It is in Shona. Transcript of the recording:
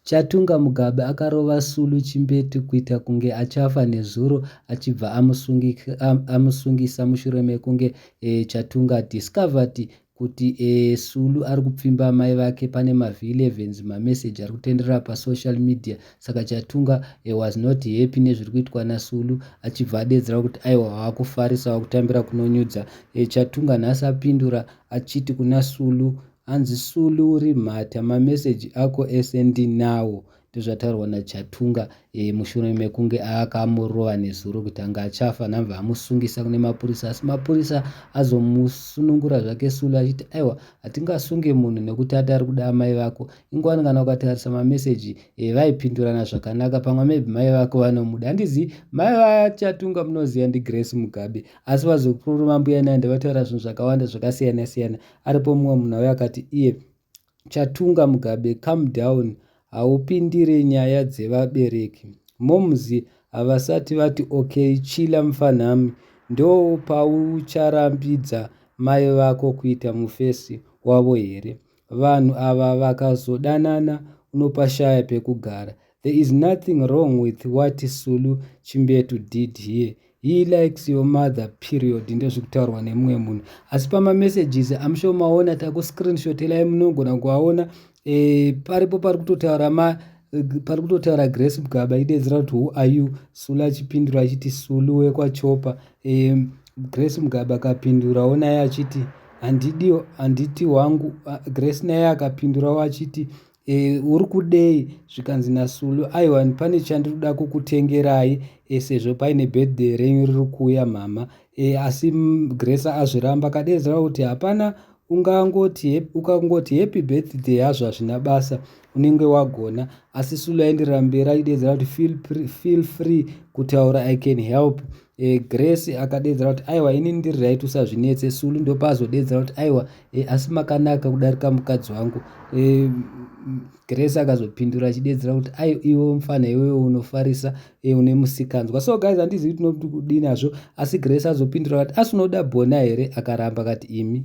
Chatunga Mugabe akarova Sulu chimbete kuita kunge achafa nezuro achibva amusungisa mushure mekunge Chatunga discovered kuti Sulu ari kupfimba amai vake pane mavhi 11 mameseji ari kutenderera pasocial media saka Chatunga was not happy nezviri kuitwa naSulu achibva adeedzera kuti aiwa wakufarisa wakutambira kunonyudza Chatunga nhasi apindura achiti kuna Sulu Hanzi sulu uri mhata ma message ako ese ndinawo ndozvataurwa na Chatunga e, mushure mekunge akamurova nezuro kuti anga achafa nhamva amusungisa kune mapurisa asi mapurisa azomusunungura zvake Sulu achiti aiwa hatingasunge munhu nekuti ati ari kuda amai vako ingwani kana ukatarisa ma message e, vaipindurana zvakanaka pamwe maybe mai vako vanomuda handizi mai va Chatunga munoziva ndi Grace Mugabe asi vazokururu mambuya Nandi vataura zvinhu zvakawanda zvakasiyana siyana aripo mumwe munhu auya akati iye chatunga mugabe come down haupindire nyaya dzevabereki moms havasati vati okay chila mfanhami ndoo paucharambidza mai vako kuita mufesi wavo here vanhu ava vakazodanana unopashaya pekugara There is nothing wrong with what Sulu Chimbetu did here. He likes your mother period ndozvikutaurwa nemumwe munhu asi pamamessages am sure maona takuscreenshotelai munogona kuaona e, paripo pari kutotaura ma pari kutotaura grace mugaba idedzera kuti who are you sulu achipindura achiti sulu wekwachopa e, grace mugaba akapindurawo naye achiti handidi handiti wangu grace naye akapindurawo achiti e, uri kudei zvikanzi nasulu aiwa pane chandiri kuda kukutengerai e, sezvo paine birthday renyu riri kuuya mhama e, asi gresa azviramba kadeedzera kuti hapana ungangoti ukangoti happy birthday hazvo hazvina basa unenge wagona asi sulu aindirambira ideedzera kuti feel, feel free kutaura i can help e, grace akadeedzera kuti aiwa ini ndiri right usazvinetse sulu ndopazodeedzera kuti aiwa e, asi makanaka kudarika mukadzi wangu e, grace akazopindura achidedzera kuti ai iwe mfana iwee unofarisa e, une musikanzwa so guys handizivi kuti tinoti kudini hazvo asi grace azopindura vati asi unoda bona here akaramba kati imi